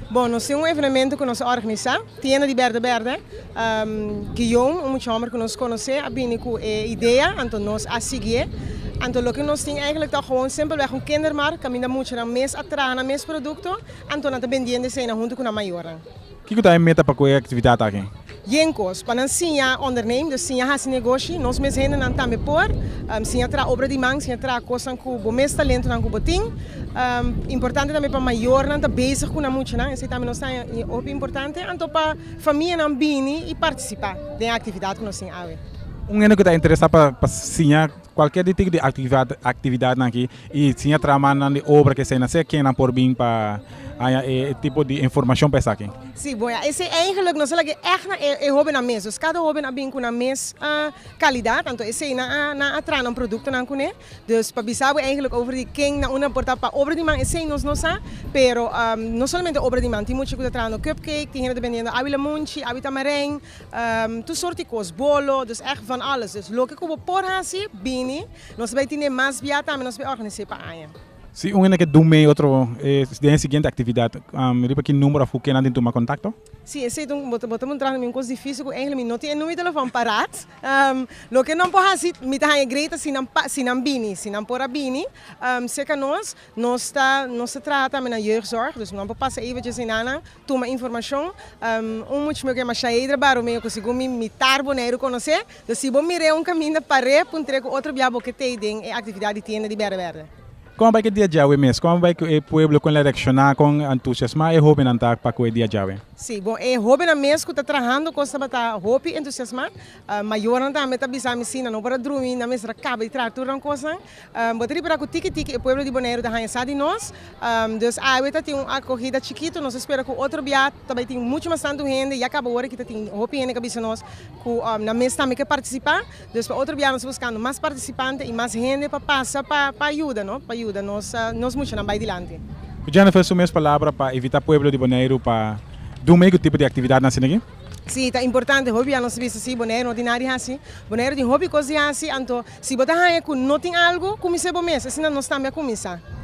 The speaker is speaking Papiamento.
Bon, nos tin un evenemento ku nos a organisá, Tienda di Berde Berde. Guillaume, un mucha hòmber ku nos konosé, a bini ku e idea, anto nos a sigié. Anto loke nos tin eigentlik ta gewoon simpelweg un kindermarkt kaminda muchanan mes a traha nan mes produkto, anto nan ta bindiendo esei nan huntu ku nan mayornan. Kiko ta e meta pa ku e aktividat aki? Yen kos, pa nan siña onderneem, dus siña hasi negoshi. Nos mes hendenan tambe por siña traha obra di man, siña traha kosnan ku bo mes talentonan ku bo tin. Importante tambe pa mayornan ta bezig ku nan muchanan, esei tambe nos ta hopi importante. Anto pa famianan bini i partisipá den e aktividat ku nos tin awe. Un hende ku ta interesá pa siña Cualkier di tiki di actividad nan aki y si a traha mannan di obra ke esei nan ser ken nan por bin pa haña e tipo di informacion pa esaki. Sí, bon ya. Esei eigenlijk nos a lag'é èg na e hóbennan mes. Dus kada hóben a bin ku nan mes kalidat, anto esei nan a nan a traha nan produktonan kuné. Dus pa bisa bo eigenlijk over di ken nan unda por ta pa obra di man esei nos no sa, pero no solamente obra di man, tin mucha ku ta traha no cupcake, tin hende ta bendiendo awi lamunchi, awi tamarijn. Tur sort di kos, bolo, dus ègt van alles. Dus loke ku bo por hasi, bini. Nos bai tene mas biaha tambe, nos bai organis'é pa aña. Si un hende ke dun mei otro den e siguiente aktividat, riba ki number òf ku kenan tin tuma kontakto? Si, esei ta un, bo ta muntra mi un kos difísil ku engelmen mi no tin e numero di telefòn paraat. Loke nan por hasi, mi ta haña grei ta si nan pa, si nan bini. Si nan por a bini, serka nos, nos ta, nos ta traha tambe na jeugdzorg, dus nan por pasa eventjes ei na nan, Tuma informashon, Un much meu ke masha heidra baro meu ku sigun mi mitar Boneiru konosé. Dor si bo mir'é un kaminda par'é puntr'é ku otro bia bo ke t'ei den e aktividat di tienda di Bèrdè Bèrdè. Kon a bai ku e dia djawe mes? Kon a bai ku e pueblo kon el a reakshoná kon entusiasmá e hóbennan ta pa ku e dia djawe? Sí, bon e hóbennan mes ku ta trahando kos tabata hopi entusiasmá. Mayornan tambe ta bisa mi, sí, nan no por a drumi, nan mester a kaba di traha tur nan kosnan. Bo ta ripara ku tiki tiki e pueblo di Boneiru ta haña sa di nos. Dus awe ta tin un akogida chikitu. Nos ta spera ku otro bia ta bai tin muchu mas tantu hende. Ya kaba ora ki ta tin hopi hende ku a bisa nos ku nan mes tambe ke partisipá. Dus pa otro bia nos ta buskando mas partisipante i mas hende pa pasa pa pa yuda, no, pa yuda nos nos muchanan bai dilanti. Ku Jennifer su mes palabra pa invitá pueblo di Boneiru pa dun mei ku tipo di aktividatnan asina aki? Si ta importante hopi bia nos bisa si Bonaire no tin nada di hasi. Bonaire tin hopi cos di hasi, anto si bo ta haña cu no tin algo, cuminse bo mes, asina nos tambe a cuminsa.